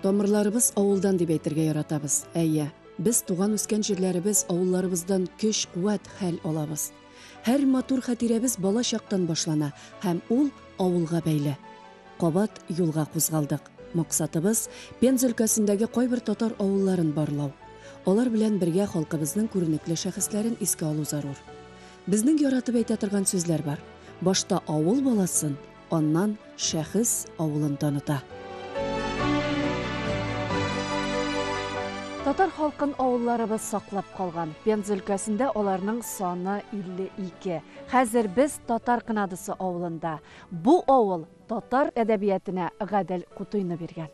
Тамырларыбыз авылдан дип әйтергә яратабыз. Әйе, без туган-үскән җирләребез, авылларыбыздан көч, куәт, хәл алабыз. Һәр матур хатирәбез бала чактан башлана һәм ул авылга бәйле. Кабат юлга кузгалдык. Максатыбыз, Пенза өлкәсендәге кайбер татар авылларын барлау. Алар белән бергә халкыбызның күренекле шәхесләрен искә алу зарур. Безнең яратып әйтә торган сүзләр бар. Башта авыл баласын, Аннан шәхес авылын таныта. Татар халкын авылларыбыз саклап калган. Пенза өлкәсендә аларның саны 52. Хәзер без Татар Кынадысы авылында. Бу авыл татар әдәбиятенә Гадел Кутыйны биргән.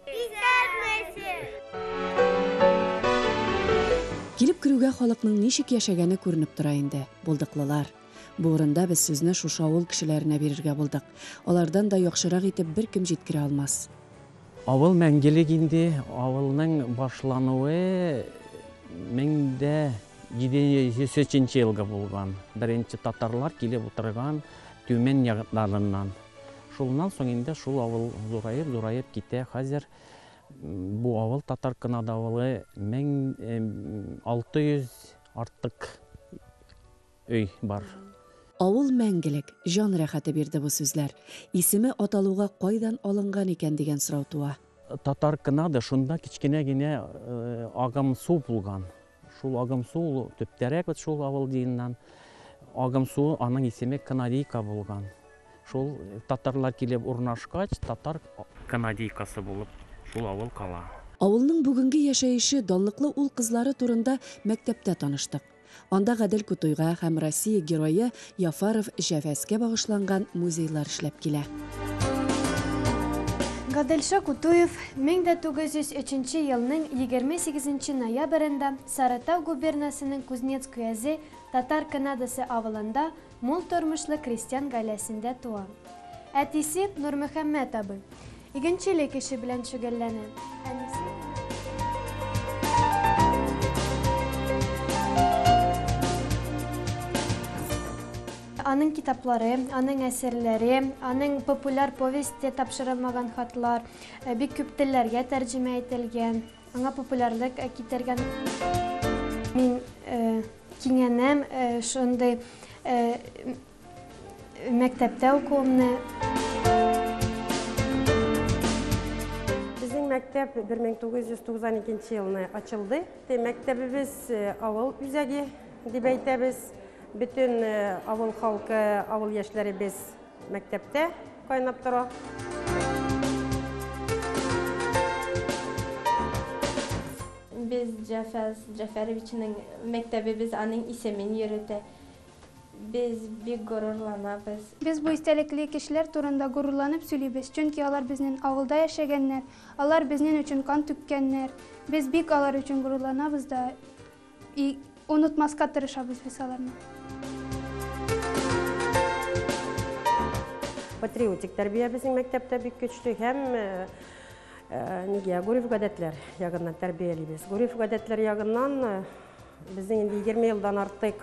Килеп керүгә халыкның ничек яшәгәне күренеп тора инде. Булдыклылар, Бу урында без сүзне шушы авыл кешеләренә бирергә булдык. Алардан да яхшырак итеп беркем җиткерә алмас. Авыл мәңгелек инде, авылның башлануы 1703 нче елгы булган, беренче татарлар килеп утырган Тюмень ягыннарыннан. Шулнан соң инде шул авыл зураеп-зураеп китә, хәзер бу авыл татар кынадавылы 1600 артык Өй бар. Авыл мәңгелек, җан рәхәте бирде бу сүзләр. Исеме аталуга кайдан алынган икән дигән сорау туа. Татар Кнады, шунда кечкенә генә агымсу булган. Шул агымсу ул төптәрәк бит шул авыл диеннән. Агымсу аның исеме Кнадийка булган. Шул татарлар килеп урнашкач, татар Кнадийкасы булып шул авыл кала. Авылның бүгенге яшәеше, данлыклы ул-кызлары турында мәктәптә таныштык. Анда Гадел Кутуйга һәм Россия герое Яфаров Җәвәскә багышланган музейлар эшләп килә. Гаделша Кутуев 1903 елның 28 ноябрендә Сарытау губернасының Кузнецк өязе Татар Кынадасы авылында Мул тормышлы крестьян гаиләсендә туа. Әтисе, Нурмөхәммәт абый, игенчелек эше белән шөгыльләнә. Әнисе... Аның китаплары, аның әсәрләре, аның популяр повесте тапшырылмаган хатлар э, бик күп телләргә тәрҗемә ителгән, аңа популярлык э, китергән. Мин э, Кинәнәм шундый мәктәптә укуымны. Безнең мәктәп 1992 елны ачылды. Мәктәбебез авыл үзәге дип әйтәбез. Бөтен авыл халкы, авыл яшьләребез Мәктәптә кайнап тора. Без Җафәс Җафәровичның мәктәбебез аның исемен йөртә. Без бик горурланабыз. Без бу истәлекле кешеләр турында горурланып сөйлибез, чөнки алар безнен авылда яшәгәннәр, алар безнен өчен кан түккәннәр. Без бик алар өчен горурланабыз да. И онытмаска тырышабыз без аларны. Патриотик тәрбия безнең мәктәптә бик көчле һәм нигә гореф-гадәтләр ягыннан тәрбиялибез. Гореф-гадәтләр ягыннан безнең инде 20 елдан артык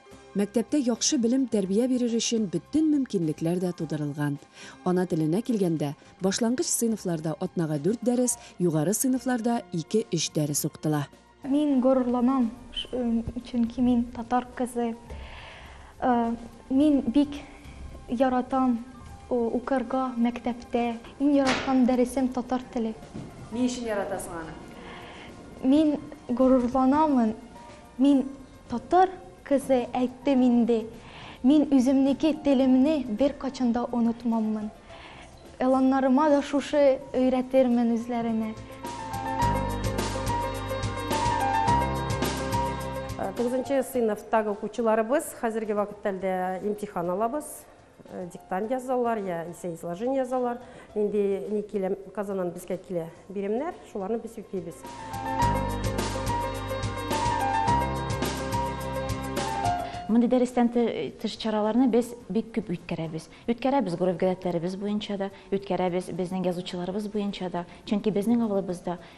Мәктәптә яхшы белем, тәрбия бирер өчен бөтен мөмкинлекләр дә тудырылган. Ана теленә килгәндә, башлангыч сыйныфларда атнага дүрт дәрес, югары сыйныфларда ике-өч дәрес укытыла. Мин горурланам, чөнки мин татар кызы. Мин бик яратам укырга мәктәптә. Иң яраткан дәресем татар теле. Ни өчен яратасың аны? Мин горурланамын. Мин. Татар кызы, әйттем инде, мин үземнеке телемне беркайчан да онытмаммын. Эланнарыма да шушы өйрәтермен үзләренә. Тугызынчы сыйныфтагы укучыларыбыз хәзерге вакыттәлдә имтихан алабыз. Диктант язалар, я исә изложение язалар. Инде ни килә, Казаннан безгә килә биремнәр, шуларны без үтибез. Мондый дәрестән тыш чараларны без бик күп үткәрәбез. Үткәрәбез гореф-гадәтләребез буенча да, үткәрәбез безнең язучыларыбыз буенча да. Чөнки безнең авылыбызда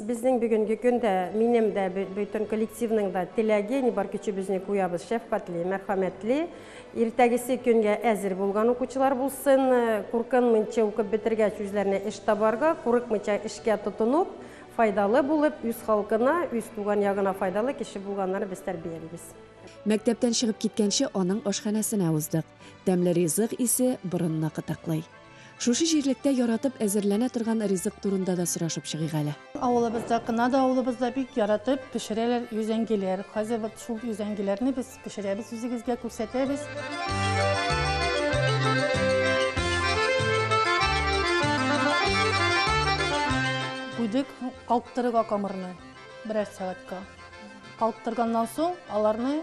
Безнең бүгенге көн дә, минем дә, бөтен коллективның да теләге, ни бар көчебезне куябыз, шәфкатьле, мәрхәмәтле, иртәгесе көнгә әзер булган укучылар булсын, куркынмыйча укып бетергәч үзләренә эш табарга, курыкмыйча эшкә тотынып, файдалы булып, үз халкына, үз туган ягына файдалы кеше булганнарын без тәрбиялибез. Мәктәптән чыгып киткәнче аның ашханәсенә уздык. Тәмле ризык исе борынны кытыклый. Шушы җирлектә яратып әзерләнә торган ризык турында да сорашып чыгыйк әле. Авылыбызда, кына да авылыбызда бик яратып пешерәләр йөзәңгиләр. Хәзер вот шул йөзәңгиләрне без пешерәбез, үзегезгә күрсәтәбез. Куйдык калктырырга камырны берәр сәгатькә. Калктырганнан соң аларны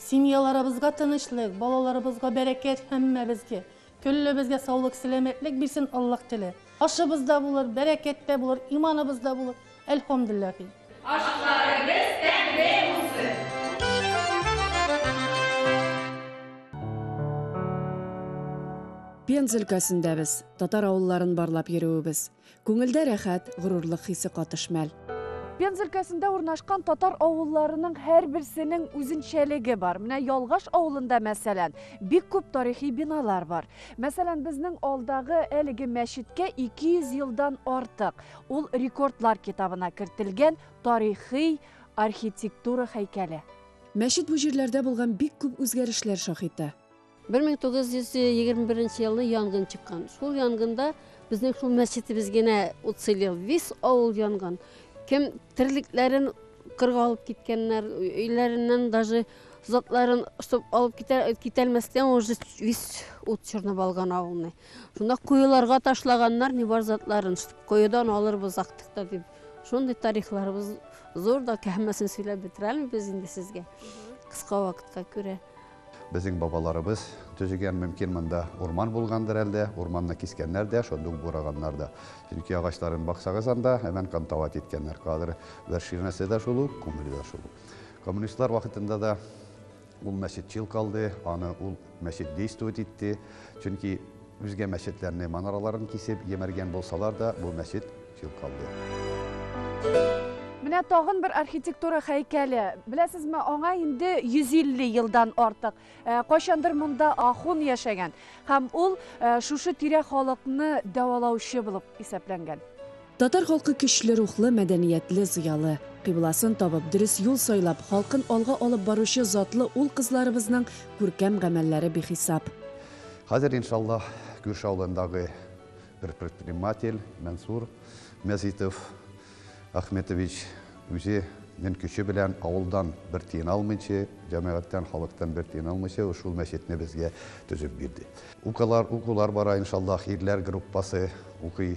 Семьяларыбызга тынычлык, балаларыбызга бәрәкәт, һәммәбезгә, көллебезгә саулык, сәламәтлек бирсен Аллаһ теле. Ашыбыз да булыр, бәрәкәт тә булыр, иманыбыз да булыр, әлхәмдүлләһи. Ашларыгыз тәмле булсын! Пенза өлкәсендәбез. Татар авылларын барлап йөрүебез. Күңелдә рәхәт, горурлык хисе катыш мәл. Пенза өлкәсендә урнашкан татар авылларының һәрберсенең үзенчәлеге бар. Менә Ялгаш авылында, мәсәлән, бик күп тарихи биналар бар. Мәсәлән, безнең алдагы әлеге мәчеткә 200 елдан артык, ул рекордлар китабына кертелгән тарихи архитектура һәйкәле. Мәчет бу җирләрдә булган бик күп үзгәрешләр шаһиты. Бер мең тугыз йөз егерме беренче елны янгын чыккан. Шул янгында безнең шул мәчетебез генә уцелел. Весь авыл янган. Кем терлекләрен кырга алып киткәннәр, өйләреннән даже затларын, чтобы алып китә, китәлмәстән уже весь ут чорнап алган авылны. Шунда коеларга ташлаганнар не бар затларын, чтобы коедан алырбыз актыкта дип. Шундый тарихларыбыз зур да, һәммәсен сөйләп бетерәлме без инде сезгә? Кыска вакытка күрә. Безнең бабаларыбыз төзегән, мөмкин, монда урман булгандыр әлдә, урманны кискәннәр дә, шул дуг бураганнар да. Чөнки агачларын баксагыз анда, әмән кантават иткәннәр. Кадр бер ширнәсе дә шул ук, күңеле дә шул ук. Коммунистлар вакытында да ул мәчетчил калды, аны ул мәчет действовать итте, чөнки, Үзгә мәчетләрнең манараларын кисеп йемәргән булсалар да, бу мәчет чүп калды. Менә тагын бер архитектура һәйкәле. Беләсезме, аңа инде 150 елдан артык. Э, кайчандыр монда ахун яшәгән һәм ул э, шушы тирә халыкны дәвалаучы булып исәпләнгән. Татар халкы көчле рухлы, мәдәниятле, зыялы. Кыйбласын табып, дөрес юл сайлап, халкын алга алып баручы затлы ул-кызларыбызның күркәм гамәлләре бихисап. Хәзер, иншаллаһ, күрше авылындагы бер предприниматель Мәнсур Мәзитов Ахметович үзе нен көче белән авылдан бер тиен алмыйчы, җәмәгатьтән, халыктан бер тиен алмыйчы шул мәчетне безгә төзеп бирде. Укулар бара, иншаллаһ, ирләр группасы укый.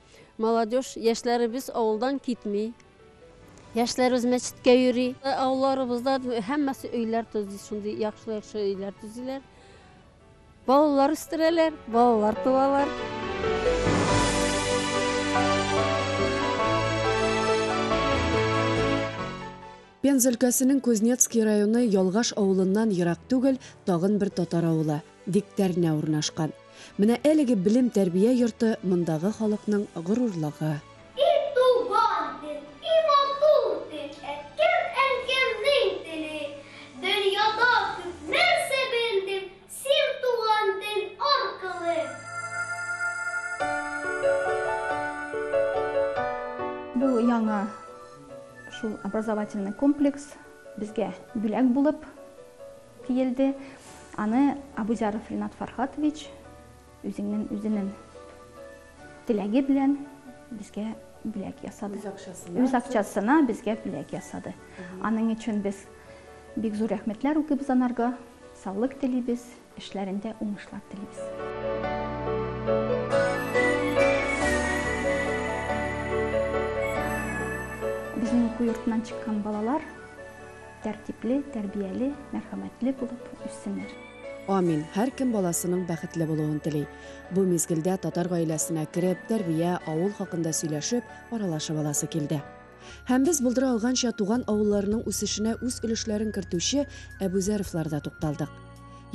Молодежь, яшьләребез авылдан китми. Яшьләребез мәчеткә йөри. Авылларыбызда һәммәсе өйләр төзи, шундый яхшы-яхшы өйләр төзиләр. Балалар үстерәләр, балалар туалар. Пенза өлкәсенең Кузнецкий районы Ялгаш авылыннан ерак түгел, тагын бер татар авылы. Дегтярнә урнашкан. Менә әлеге белем-тәрбия йорты мондагы халыкның горурлыгы. И туган тел, и матур тел, Әткәм, әнкәм ни тели? Дөньяда күп нәрсә белдем Син туган тел аркылы. Бу яңа шул образовательный комплекс безгә бүләк булып. Диелде. Аны Абузяров Ринат Фархатович үзеннен үзенен теләге белән безгә бүләк ясады. Үз акчасына безгә бүләк ясады. Аның өчен без бик зур рәхмәтләр укыйбыз анарга. Саулык телибез, эшләрендә уңышлар телибез. Безнең уку йортыннан чыккан балалар Тәртипле, тәрбияле, мәрхәмәтле булып үссеннәр. Амин! Һәркем баласының бәхетле булуын тели. Бу мизгелдә татар гаиләсенә кереп, тәрбия, авыл хакында сөйләшеп, аралашып аласы килде. Һәм без булдыра алганча туган авылларының үсешенә үз өлешләрен кертүче Әбүзәровларда тукталдык.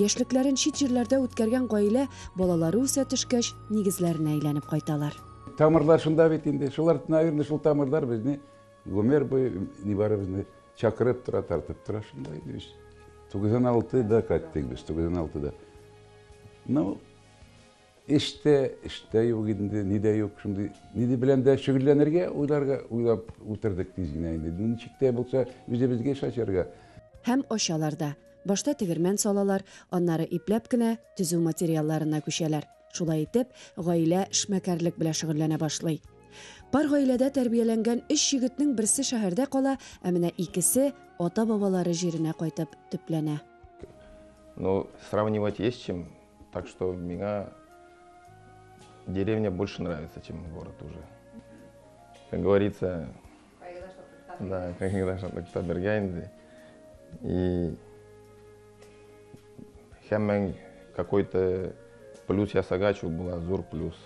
Яшьлекләрен чит җирләрдә үткәргән гаилә балалары үсә төшкәч, нигезләренә әйләнеп кайталар. Тамырлар шунда бит инде. Шулар, наверное, шул тамырлар безне Гомер буе нибары безне чакырып тора, тартып тора, шунда инде без. 96-да кайттык без, 96-да. Ну, эштә, эштә юк инде, ни дә юк, шундый, ни дә белән дә шөгыльләнергә, уйларга, уйлап утырдык тиз генә инде. Ничек тә булса, үзебезгә эш ачарга. Һәм ачалар да. Башта тегермән салалар, аннары ипләп кенә төзү материалларына күчәләр. Шулай итеп, гаилә эшмәкәрлек белән шөгыльләнә башлый. Пар гаиләдә тәрбияләнгән өч егетнең берсе шәһәрдә кала, ә менә икесе ата-бабалары җиренә кайтып төпләнә. Ну, сравнивать есть чем, так что миңа деревня больше нравится, чем город уже. Как говорится, Да, кайгыда шатлыкта бергә инде. И һәммәң какой-то плюс ясагач, ул була зур плюс.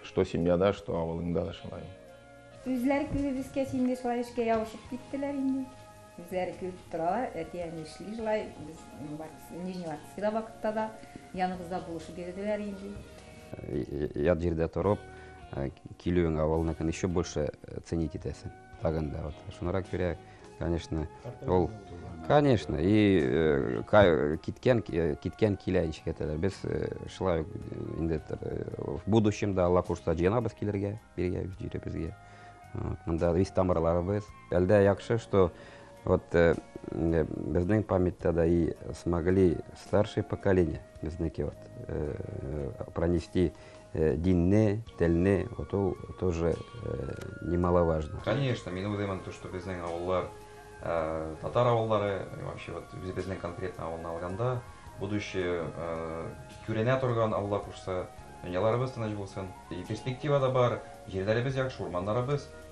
Что семьяда, что авылыңда да шулай. Үзләре күзебезгә синде шулай эшкә ябышып киттеләр инде. Үзләре көлеп торалар, әти-әни нишли шулай, без Нижневартовскида вакытта да яныбызда булышып йөрделәр инде. Ят җирдә торып, килүең авылныкын еще больше ценить итәсең. Тагын да вот. Шунрак күрә, конечно, ул Конечно, и э, киткән э, киткән килә ничек әйтәләр. Без э, шулай инде в будущем да Алла кушса җыенабыз килергә, биргә җиребезгә. Монда весь тамырларыбыз. Әлдә яхшы, что вот э, э, безнең памятьта да и смогли старшее поколение, безнеке вот, э, э пронести э, динне, телне, вот ол тоже э, немаловажно. Конечно, мин уйлыймын, то, что безнең авыллар, э, татар авыллары, вообще вот безнең конкретно авылны алганда, будущее э, күренә торган Алла кушса, дөньяларыбыз тыныч булсын. И перспектива да бар, җирләребез яхшы, урманнарыбыз,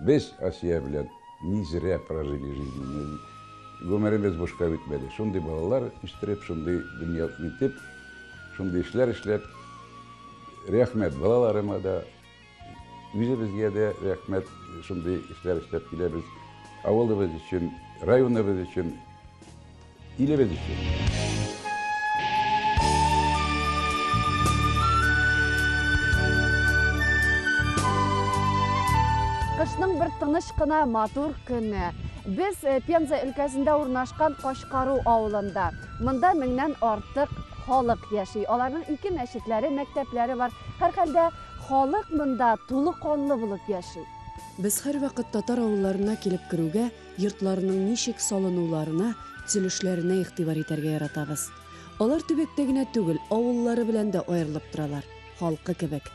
Без Асия белән не зря прожили жизнь, гомеребез бушка үтмәде. Шундый балалар үстереп, шундый дөнья итеп, шундый эшләр эшләп, рәхмәт балаларыма да, үзебезгә дә рәхмәт, шундый эшләр эшләп киләбез. Авылыбыз өчен, районыбыз өчен Илебез өчен! Кышның бер тыныч кына матур көне. Без э, Пенза өлкәсендә урнашкан Кашкару авылында. Монда меңнән артык халык яши. Аларның ике мәчетләре, мәктәпләре бар. Һәрхәлдә халык монда тулы канлы булып яши. Без һәрвакыт татар авылларына килеп керүгә, Йортларның ничек салынуларына, төзелешләренә игътибар итәргә яратабыз. Алар төбәктә генә түгел, авыллары белән дә аерылып торалар, халкы кебек.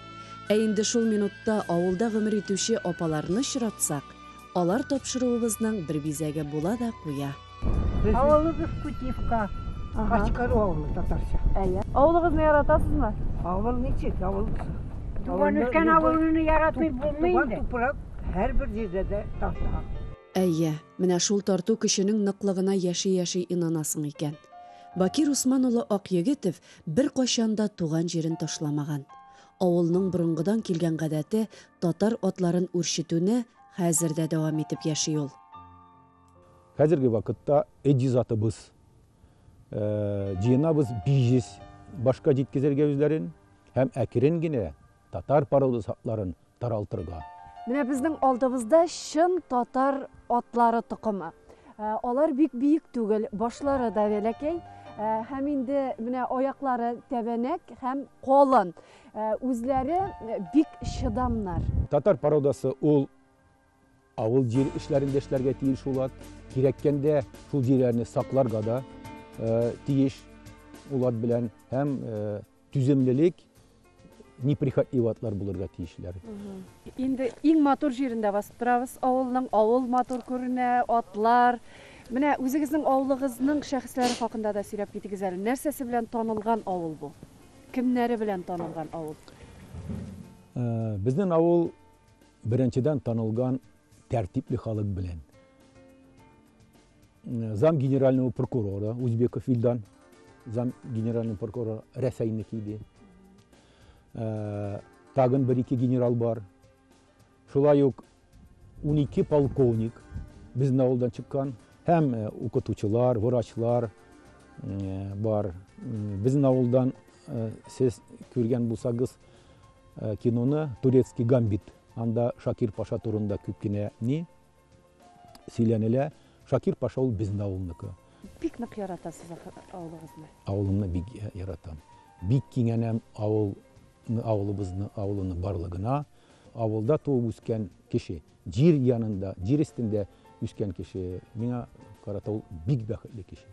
Ә инде шул минутта авылда гомер итүче апаларны очратсак, алар тапшыруыбызның бер бизәге була да куя. Авылыбыз Кутивка, Качкару авылы татарча. Авылыгызны яратасызмы? Авыл ничек, авыл. Туган өлкән авылны яратмый булмый инде. Туган тупрак. һәрбер җирдә дә тарта. Әйе, менә шул тарту көченең ныклыгына яши-яши инанасың икән. Бакир Усман улы Акъегетов беркайчан да туган җирен ташламаган. Авылның борынгыдан килгән гадәте, татар атларын үрчетүне хәзер дә дәвам итеп яши ул. Хәзерге вакытта эҗи затыбыз, җыенабыз биҗиз башка җиткезергә үзләрен һәм әкрен генә татар порода сатларын таралтырга. Менә безнең алдыбызда чын татар атлары токымы. Ә, алар бик биек түгел, башлары да бәләкәй ә, һәм инде менә аяклары тәбәнәк һәм калын. Ә, үзләре бик чыдамнар. Татар породасы ул Авыл җир эшләрен дә эшләргә тиеш улат. Кирәккәндә шул җирләрне сакларга да тиеш улат белән һәм түземлелек неприхотливый атлар булырга тиешләр. Инде иң матур җирендә басып торабыз авылның. Авыл матур күренә, атлар. Менә үзегезнең авылыгызның шәхесләре хакында да сөйләп китегез әле. Нәрсәсе белән танылган авыл бу? Кемнәре белән танылган авыл? Безнең авыл Беренчедән танылган тәртипле халык белән. Зам генерального прокурора Узбеков Илдан, зам генеральный прокурор Рәсәйнеке иде. Ә, тагын бер ике генерал бар. Шулай ук 12 полковник безнең авылдан чыккан һәм э, укытучылар, врачлар э, бар. Безнең авылдан э, сез күргән булсагыз, Э, киноны турецкий гамбит анда шакир паша турында күп кенә ни сөйләнелә шакир паша ул безнең авылныкы бик нык яратасыз авылыгызны авылымны бик яратам бик кинәнәм авыл авылыбызны авылыны барлыгына авылда туып үскән кеше җир янында җир өстендә үскән кеше миңа карата ул бик бәхетле кеше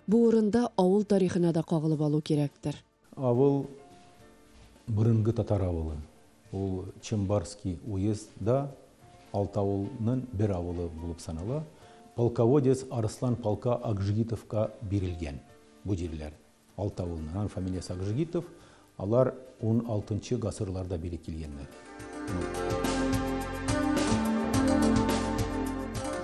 бу урында авыл тарихына да кагылып алу кирәктер Авыл борынгы татар авылы. Ул Чембарский уезд да алты авыл нын бер авылы булып санала. Полководец Арыслан полка Акжгитов ка бирелгән бу җирләр. Алты авыл нын ан фамилиясе Акжгитов. Алар ун алтынчы гасыр ларда бире килгәннәр.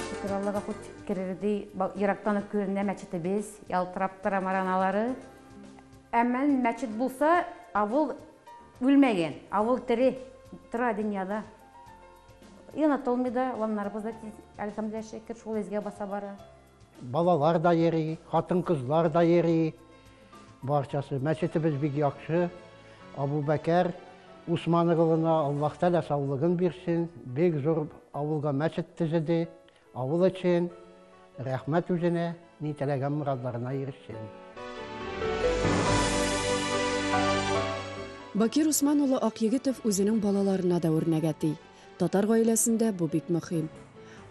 Чокыр Аллага хут керердей ерактан ук күренә мәчете без, ялтырап тора мараналары. Әмма мәчет булса, авыл үлмәгән, авыл тере, тора дөньяда. И онытылмый да, ваннарыбыз да тиз, әлхәмдүлилләһ шөкер, шул изге баса бара. Балалар да йөри, хатын-кызлар да йөри. Барчасы. Мәчетебез бик яхшы. Абубәкәр Усман угылына Аллаһ Тәгалә саулыгын бирсен. Бик зур авылга мәчет төзеде. Авыл өчен рәхмәт үзенә, ни теләгән морадларына ирешсен. Бакир Усман улы Акъегетов үзенең балаларына да үрнәк әти. Татар гаиләсендә бу бик мөхим.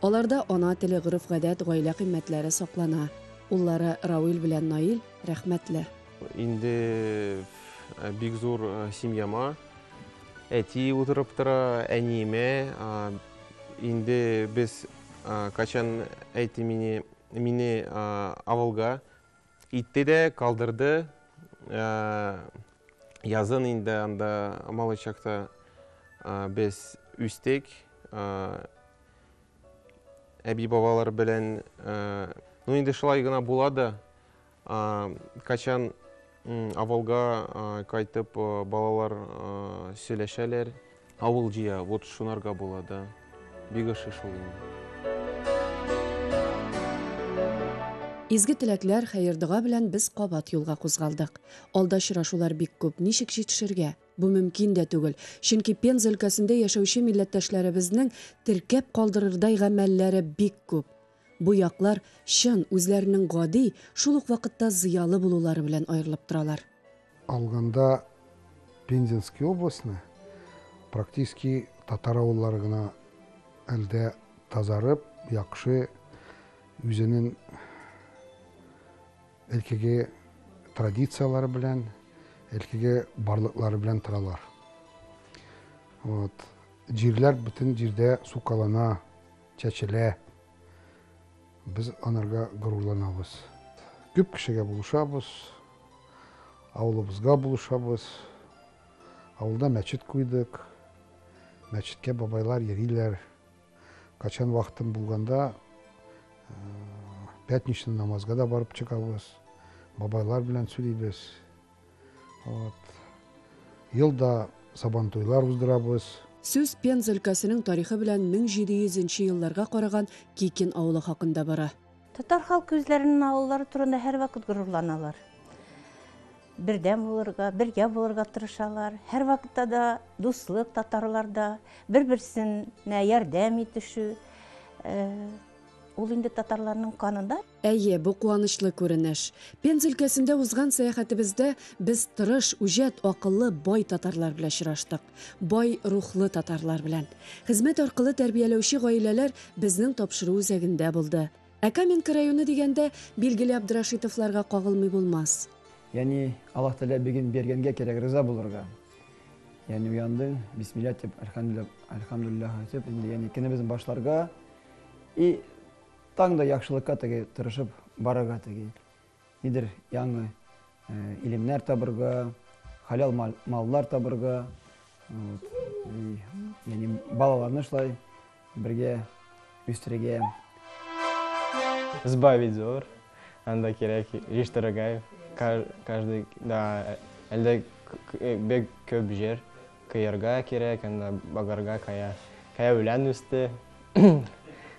Аларда ана теле, гореф-гадәт, гаилә кыйммәтләре саклана. Уллары Рауил белән Наил рәхмәтле. Инде бик зур семьяма әти утырып тора, әниемә Инде без качан әйти мени, мени авылга итте дә, калдырды. Язын инде анда Малычакта без үстек. Әби-бабалар белән, ну инде шулай гына була да. Качан авылга кайтып балалар сөйләшәләр. Авыл җыя, вот шунарга була да. Бик ошый шул инде. Изге теләкләр, хәер-дога белән без кабат юлга кузгалдык. Алда очрашулар бик күп, ничек җитешергә? Бу мөмкин дә түгел, чөнки Пенза өлкәсендә яшәүче милләттәшләребезнең теркәп калдырырдай гамәлләре бик күп. Бу яклар чын, үзләренең гади, шул ук вакытта зыялы булулары белән аерылып торалар. Алганда Пензенский областьны практически татар авыллары гына әлдә тазарып, яхшы үзенең элкеге традицияләре белән, элкеге барлыклары белән торалар. Вот. Җирләр бөтен җирдә сукалана. Чәчелә. Без анарга горурланабыз. Күп кешегә булышабыз. Авылыбызга булышабыз. Авылда мәчет куйдык. Мәчеткә бабайлар йөриләр. Качан вакытым булганда, пятничный намазга да барып чыгабыз. Бабайлар белән сөйлибез. Вот. Елда сабантуйлар уздырабыз. Сүз Пенза өлкәсенең тарихы белән 1700 елларга караган Кикин авылы хакында бара. Татар халкы үзләренең авыллары турында һәрвакыт горурланалар. Бердәм булырга, бергә булырга тырышалар. Һәрвакытта да дуслык татарларда, бер-берсенә ярдәм итешү. Ул инде татарларның канында. Әйе, бу куанычлы күренеш. Пенза өлкәсендә узган сәяхәтебездә без тырыш, үҗәт, акыллы, бай татарлар белә очраштык. Бай рухлы татарлар белән. Хезмәт аркылы тәрбияләүче гаиләләр безнең тапшыру үзәгендә булды. Ә Каменка районы дигәндә, билгеле Абдрашитовларга кагылмый булмас. Яни, Аллаһ Тәгалә бирген биргәнгә кирәк риза булырга. Яни уяндың, бисмилла дип, әлхәмдүлилләһ, әлхәмдүлилләһ әйтеп, инде яни көнебезне башларга. И Таң да яхшылыкка теге тырышып барырга теге, нидер яңы илемнәр табырга, халал маллар табырга, яни балаларны шулай бергә үстерергә. Сбавить зур, анда кирәк еш дорогая, каждый да әлдә бик күп җир кыярга кирәк, анда багарга кая, кая үлән үсте,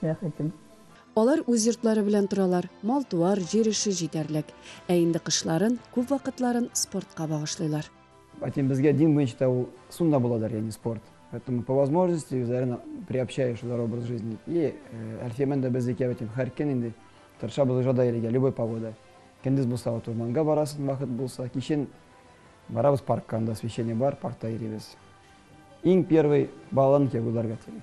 бәхетем. Алар үз йортлары белән торалар, мал-туар, җир эше җитәрлек. Ә инде кышларын, күп вакытларын спортка багышлыйлар. Әйтим, безгә дин буенча да ул сунна буладыр, ягъни спорт. Поэтому по возможности үзләрен приобщаю шулар образ жизни. И Әлфия белән дә без икәү әйтим, һәр көн инде тырышабыз уже да йөрергә, любой погода. Көндез булса вот урманга барасың, вакыт булса, кичен барабыз паркка, анда освещение бар, паркта йөрибез. Иң первый балаларны кияүгә булдырырга телим.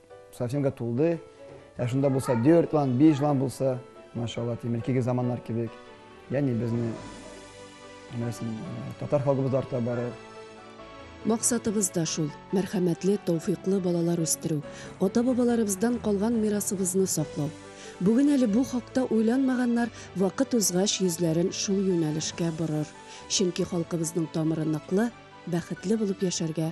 Совсемга тулды. Ә шунда булса дүрт лан, биш лан булса, машалла, тимеркиге заманнар кебек. Яни безне нәрсен татар халкыбыз арта бары. Максатыбыз да шул, мәрхәмәтле, тауфиклы балалар үстерү, ата-бабаларыбыздан калган мирасыбызны саклау. Бүген әле бу хакта уйланмаганнар вакыт узгач йөзләрен шул юнәлешкә борыр. Чөнки халкыбызның тамыры ныклы, бәхетле булып яшәргә